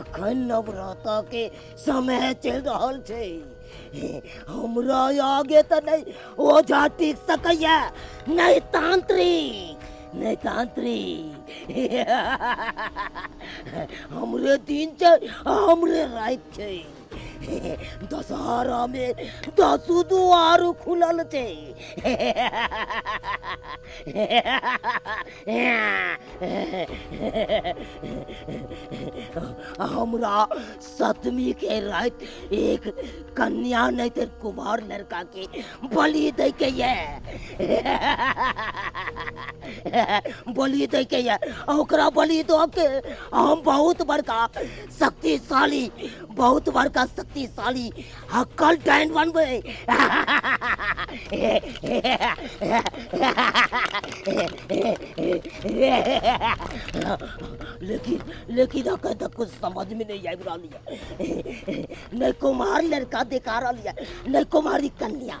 अखन नवराता के समय चल रहल छै हमरा आगे तऽ नहि ओझा टिक सकैया नहि तांत्रिक नहि तांत्रिक हमरे दिन छै आ हमरे राति छै दशहरा में दसू दुआर खुलल थे हमरा सतमी के रात एक कन्या नहीं थे कुमार लड़का के बलि दे के ये बलि दे के ये ओकरा बलि दो के हम बहुत बड़का शक्तिशाली बहुत बड़का शक्तिशाली हक्कल डाइन बनबै लेकिन लेकिन अखन तक कुछ समझ में नहीं आबि रहल यऽ नहि कुमार लड़का देखा रहल यऽ नहि कुमारी कन्या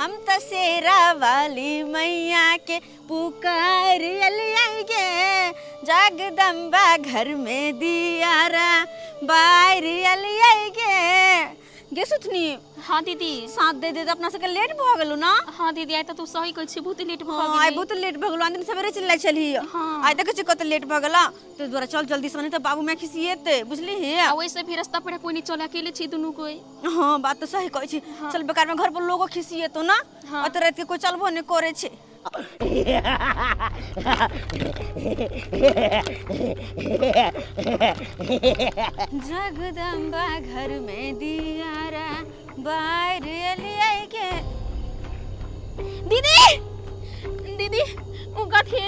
हम त शेरा वाली मैया के पुकार अलियाई गे जगदम्बा घर में दियारा बाहर अलियाई गे गे सुथनी हाँ दीदी साथ दे दे त अपना सबके लेट भ गेलु ना हाँ दीदी आइ त तू सही कहै छी बहुत लेट भ हाँ आइ गेलै बहुत लेट भ गेलु दिन सबेरे चलि जाइ छलही हाँ। आइ देखै छी कत लेट भ गेला तै दुआरे चल जल्दी से नहि त बाबू माय खिसिएते बुझलिही आ ओइसे भी रास्ता पर कोई नहीं चल अकेले छी दुनू कोई हँ बात तऽ सही कहै छी चल बेकार में घर पर लोगो खिसियेतो ना हाँ। अत रात के कोई चलबो ने करे छे जगदम्बा घर में दियारा बाहर लियाई के दीदी दीदी उ कथी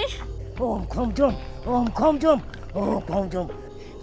ओम खम जम ओम खम जम ओम खम जम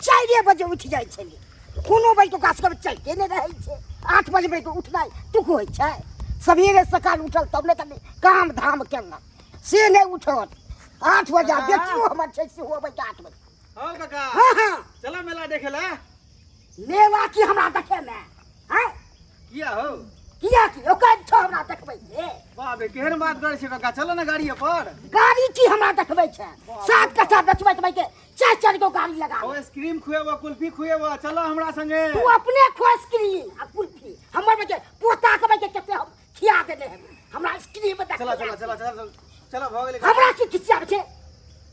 चारिए बजे उठि जाइ छली कोनो बजे ओकरा सबके चलिते नहि रहै छै आठ बजे बजे उठनाइ तुक होइ छै सबेरे सकाल उठल तब ने तनी काम धाम केलक से नहि उठल आठ बजे आ बेटियो हमर छै सेहो अबै छै आठ बजे हँ काका हँ हँ चला मेला देखे ला मेला की हमरा देखैमे हँ किया हो किया की ओकर छौ हमरा देखबै के वाह बे केहन बात करै छै काका चलो ना गाड़िए पर गाड़ी की हमरा देखबै छै सात कट्ठा बेचबै तबै के चार चार गो गाड़ी लगा ओ आइसक्रीम खुएबो कुल्फी खुएबो चलो हमरा संगे तू अपने खो आइसक्रीम आ कुल्फी हमर बजे पोता के बजे कते हम खिया देने है हमरा आइसक्रीम बता चलो चलो चलो चलो चलो भऽ गेलै हमरा की खिसिया छै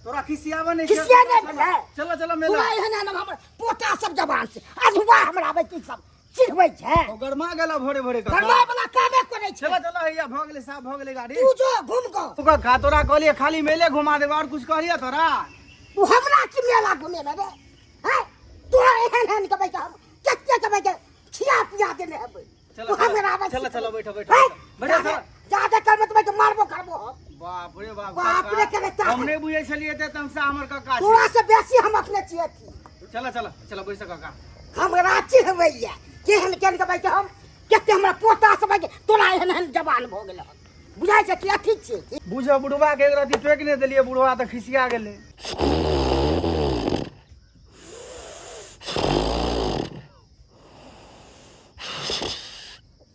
तोरा खिसियाबे नै खिसिया नै भेलै चलो चलो मेला पूरा एहन हमरा पोता सब जवान छै अधवा हमरा बजे सब चिखबै छै ओ गरमा गेला भोरे भोरे का गरमा वाला कामे करे छै चलो चलो हैया भ गेलै साफ भ गेलै गाड़ी तू जो घूम को तू का का तोरा कहलिए खाली मेले घुमा देबे और कुछ कहलिए तोरा तू हमरा की मेला घुमे बे हैं तू एहन एहन के बैठा कते के बैठा खिया पिया देने हेबै चलो चलो बैठो बैठो बैठो बैठो जादे करबे त मैं मारबो करबो बाप रे बाप बाप रे करे ता हम नहीं बुझे छलिए त तुमसे हमर काका तोरा से बेसी हम अपने छिए थी चला चला चला बैस काका हम राची हवैया केहन केहन के बैठे हम केते हमरा पोता से बैठे तोरा एहन एहन जवान भ गेल बुझाइ छै कि अथी छिए बुझो बुढ़वा के राती टोक ने देलिए बुढ़वा त खिसिया गेले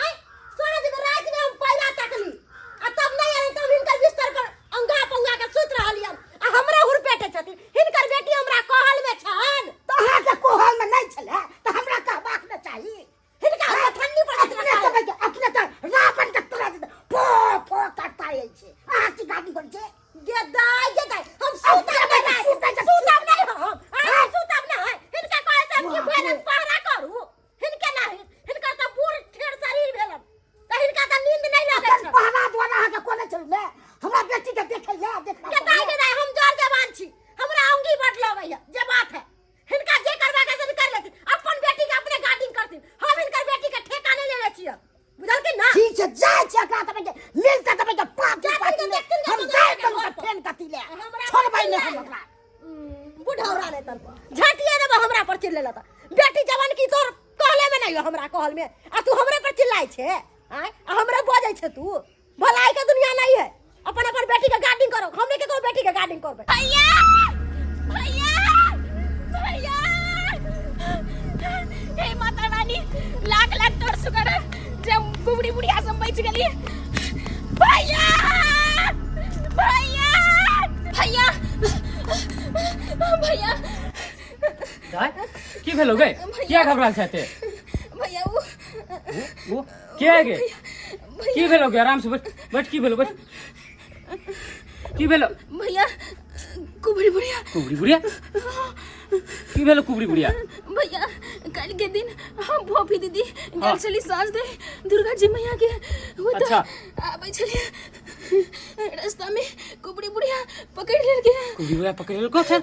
आय साँझ के रात में हम पहिला तकली आ तब नहीं आए तब हिनकर बिस्तर पर अंगा पंगा के सुत रहलियन आ हमरा हुर पेटे छथिन हिनकर बेटी हमरा कहल में छन तो अहाँ के कोहल में नहीं छले तो हमरा कहबाक न चाही हिनका हमरा ठंडी पर अपने तो भैया, अपने तो रावण के तरह से फो फो करता है छे अहाँ की गाड़ी कर छे गेदाय गेदाय हम सुता सुतब नहीं नहीं, सुतब नहीं। सुतब नहीं हम आ सुतब नहीं हिनका कहे से हम की भैरन पहरा करू हिनके ना हित हिनकर तऽ बूढ़ ठेर शरीर भेलन तऽ हिनका तऽ नींद नहि लगै छन पहला द्वारा अहाँ के कोने चल ले हमरा बेटी के देखे ले देखना गदाई गदाई हम जोर जवान छी हमरा अंगी बट लगै है जे बात है हिनका जे करबा के से कर लेथिन अपन बेटी के अपने गार्डिंग करथिन हम हिनकर बेटी के ठेका नहि लेले छियै बुझलकै ना ठीक छै जाय छै एकरा तबे के मिल के तबे के पाप के पाप हम जाय तन के फेन कति ले छोड़बै नै हम ओकरा बुढ़ौरा नै तन झटिया देब हमरा पर चिल्ले लता बेटी जवान की तोर कहले में नै हमरा कहल में आ तू हमरा पर चिल्लाय छै आय हमरा बजै छै तू भलाई के दुनिया नहीं है अपन अपन बेटी के गार्डिंग करो हमने के को बेटी के गार्डिंग करबे भैया भैया भैया हे माता रानी लाख लाख तोर सुकर जे बुबड़ी बुढ़िया सब बच गेली भैया भैया भैया भैया दाय की भेलो गए किया घबराल छते भैया वो वो के है गे की भेलो गे आराम से बैठ बैठ की भेलो बैठ की भेलो भैया कुबड़ी बुढ़िया कुबड़ी बुढ़िया की भेलो कुबड़ी बुढ़िया भैया कल के दिन हम भोपी दीदी गल चली सास दे दुर्गा जी मैया के वो तो अच्छा। आबै छलिए रास्ता में कुबड़ी बुढ़िया पकड़ लेलके कुबड़ी बुढ़िया पकड़ लेलको सर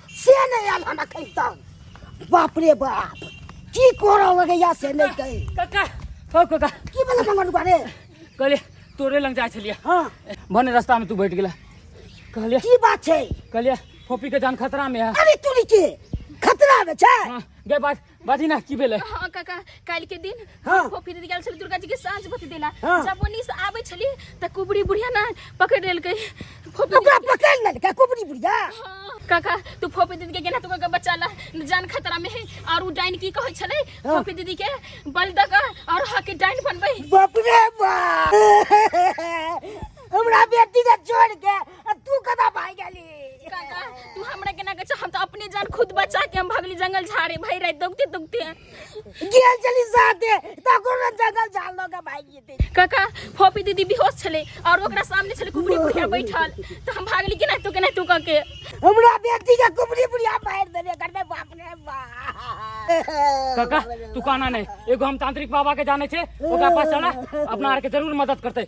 से नहि आयल हन एखन तक बाप रे बाप की कोरा लगैया से नहि कही काका हौ काका की भेलै मंगरुआ रे कहले तोरे लग जाइ छलियै हाँ भने रस्तामे तू बैठ गेला कहलियै की बात छै कहलियै फोपीके जान खतरामे है अरे तू के खतरा में छै हाँ, गए बात बाजी ना की भेलै हाँ काका काल्हि के दिन हाँ। खोपी दीदी गेल छली दुर्गा जी के साँझ बत्ती देला हाँ। जब ओनी से आबै छली तऽ कुबड़ी बुढ़िया ना पकड़ लेलकै खोपी ओकरा पकड़ लेलकै कुबड़ी बुढ़िया हाँ। काका तू फोपी दीदी के गेना तू काका बचा ला जान खतरा में है और उ डाइन की कहै छलै हाँ। फोपी दीदी के बल दऽ कऽ और हाके डाइन बनबै बाप रे बाप हमरा बेटी के छोड़ के आ तू कदा भाई गेली काका तू हमरा केना कहै छ हम त अपने जान खुद बचा के हम भगली जंगल झाड़े भई रात दौगते दौगते गेल चली साथे त कोनो जगह जाल लोग भाई गेते काका फोपी दीदी बेहोश छले और ओकरा सामने छले कुबरी बुढ़िया बैठल त हम भागली केना तू केना तू कह के हमरा बेटी के कुबरी बुढ़िया मार देले करने बाप रे बाप काका तू कहना नहीं एगो हम तांत्रिक बाबा के जाने छे ओकरा पास चला अपना आर के जरूर मदद करते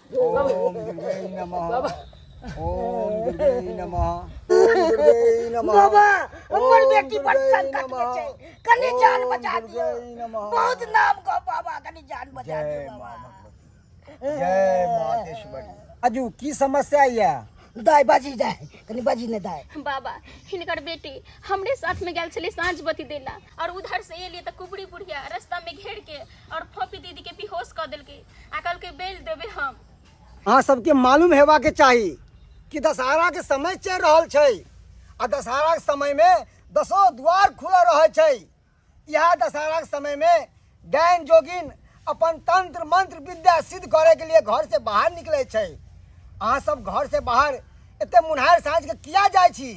ओम दुर्गे नमः बाबा ओम दुर्गे नमः ओम दुर्गे नमः बाबा हमर बेटी पर संकट में छै कनी जान बचा दियो बहुत नाम को बाबा कनी जान बचा दियो बाबा जय मातेश्वरी अजू की समस्या या दाय बाजी जाय कनी बाजी ने दाय बाबा हिनकर बेटी हमरे साथ में गेल छले साँझ बती देला और उधर से एलिए त कुबड़ी बुढ़िया रास्ता में घेर के और फोपी दीदी के बेहोश कर दिल के आ कल के बेल देबे हम अहाँ सबके मालूम हेबा के चाही कि दशहरा के समय चल रहल छै आ दशहरा के समय में दसो द्वार खुला रहै छै यह दशहरा के समय में डायन जोगिन अपन तंत्र मंत्र विद्या सिद्ध करे के लिए घर से बाहर निकले छै अहाँ सब घर से बाहर एते मुन्हार साँझ के किया जाइ छी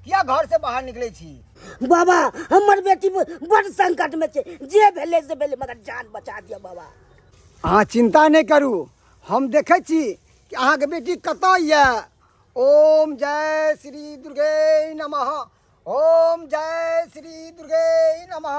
किया घर से बाहर निकले छी बाबा हमर बेटी बड़ संकट में छे जे भेले से भेले मगर जान बचा दियो बाबा अहाँ चिंता नहीं करू हम देखे छी कि अहाँ के बेटी कत ये ओम जय श्री दुर्गे नमः ओम जय श्री दुर्गे नमः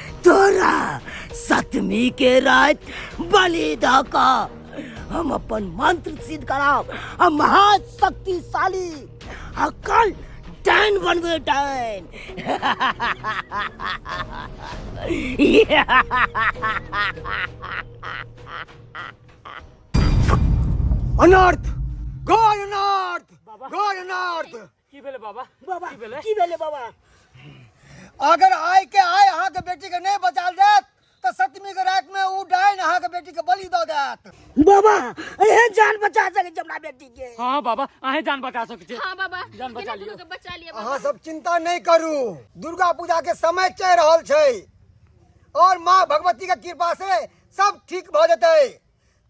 तोरा सतमी के रात बलि द क हम अपन मंत्र सिद्ध कराब आ महाशक्तिशाली आ कल डैन बनबे डैन अनर्थ गॉड अनर्थ गॉड अनर्थ की भेले बाबा बाबा की भेले की भेले बाबा अगर आय के आय अहाँ के बेटी के नहीं बचा देत तो सतमी के रात में ऊ डाइन अहाँ के बेटी के बलि दो देत बाबा एहे जान बचा सके जमना बेटी के हां बाबा आहे जान बचा सके छे हां बाबा जान बचा लियो के बचा लियो अहाँ सब चिंता नहीं करू दुर्गा पूजा के समय चल रहल छै और माँ भगवती के कृपा से सब ठीक भ जतै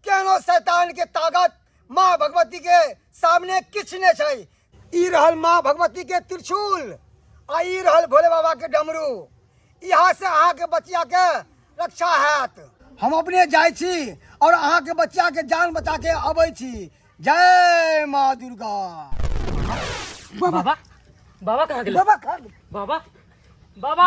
केनो शैतान के ताकत माँ भगवती के सामने किछ ने छै ई रहल माँ भगवती के त्रिशूल आ ई रहल भोले बाबा के डमरू यहाँ से अहाँ के बचिया के रक्षा हैत हम अपने जाइ छी और अहाँ के बच्चा के जान बचा के अबै छी जय माँ दुर्गा बाबा बाबा कहाँ गेल बाबा खा गेल। बाबा बाबा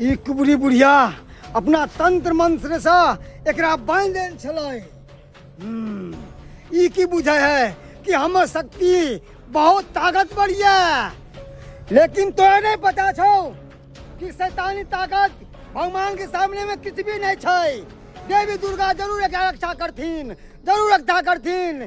ई कुबरी बुढ़िया अपना तंत्र मंत्र से एकरा बांध देल छलै हम्म, ई की बुझै है कि हमर शक्ति बहुत ताकतवर ये लेकिन तोरा नहीं पता छौ कि शैतानी ताकत भगवान के सामने में किछु भी नहीं छै देवी दुर्गा जरूर एकरा रक्षा करथिन जरूर रक्षा करथिन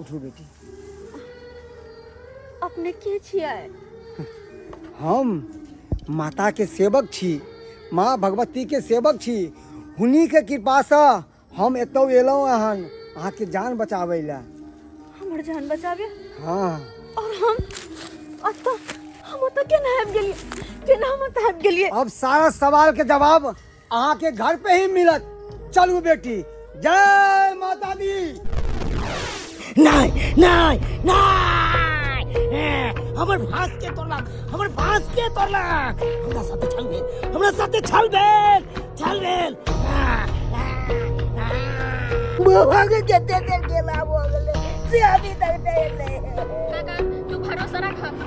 उठू बेटी अपने के छियै हम माता के सेवक छी माँ भगवती के सेवक छी हुनी के कृपा से हम एतौ एलहुँ हन अहाँके जान बचाबै लए हमर जान बचाबे हाँ और हम अतः हम अतः केना आबि गेलियै केना हम अतः आबि गेलियै अब सारा सवाल के जवाब अहाँ के घर पे ही मिलत चलू बेटी जय माता दी नहीं नहीं नहीं हमर भास के तोड़लक हमर भास के तोड़लक हमरा साथे छल भेल हमरा साथे छल भेल छल भेल बौआ के कते देर गेला भऽ गेलै से अभी तक नहि एलै काका तू भरोसा रख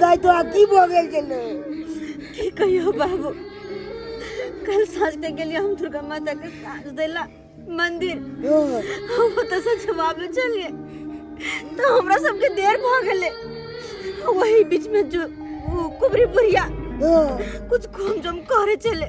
दाय तो आ की भऽ गेल छलै की कहियो बाबू कल साँझ के गेलियै हम दुर्गा माता के साँझ देला मंदिर हम ओतऽ से जवाब ले चलिए तो हमरा सबके देर भऽ गेलै वही बीच में जो उ कुबरी बुढ़िया कुछ घूम जम करे चले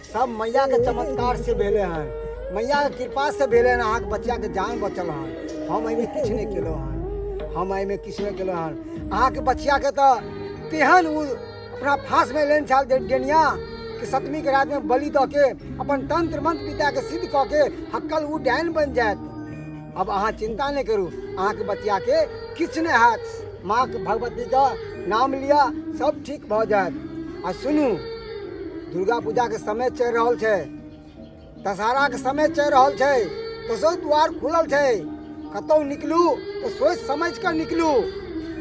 सब मैया के चमत्कार से भेले हन मैया के कृपा से भेले हन अहाँके बच्चा के जान बचल हन हम एहिमे किछु नहि केलहुँ हन हम एहिमे किछु नहि केलहुँ हन अहाँके बच्चा के तऽ तेहन ओ अपना फांस में लेने छल डेनिया कि सतमी के रात में बलि दऽ के अपन तंत्र मंत्र पिता के सिद्ध कऽ के हक्कल ओ डायन बनि जायत अब अहाँ चिंता नहि करू अहाँके बच्चाके किछु नहि हैत माँके भगवतीके नाम लिअ सब ठीक भऽ जायत आ सुनू दुर्गा पूजाके समय चलि रहल छै दशहराके समय चलि रहल छै दसो द्वार खुलल छै कतहु निकलू तऽ सोचि समझ कऽ निकलू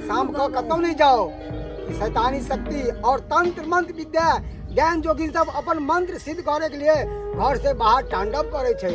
शाम कऽ कतहु नहि जाओ शैतानी शक्ति और तंत्र मंत्र विद्या ज्ञान जोगिन सब अपन मंत्र सिद्ध करे के लिए घर से बाहर तांडव करे छै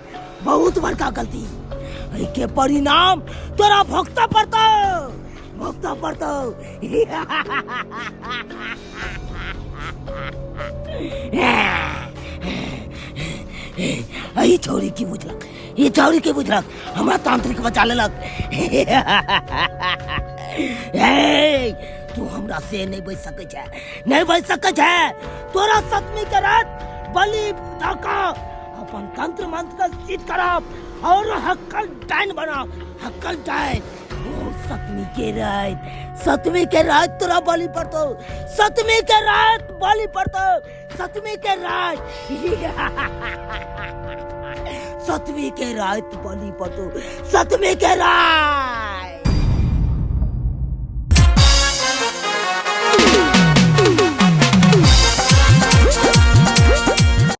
बहुत बड़का गलती एहि के परिणाम तोरा भोगता पड़तो भोगता पड़तो एहि छौरी की बुझलक ई छौरी की बुझलक हमरा तांत्रिक बचा लेलक ए, तू हमरा से नहीं बच सकै छै नहीं बच सकै छै तोरा सतमी के रात बलि धका अपन तंत्र मंत्र का सिद्ध कराब और हक्कल डाइन बनाब हक्कल डाइन ओ सतमी के रात सतमी के रात तोरा बलि पड़तो सतमी के रात बलि पड़तो सतमी के रात सतमी के रात बलि पड़तो सतमी के रात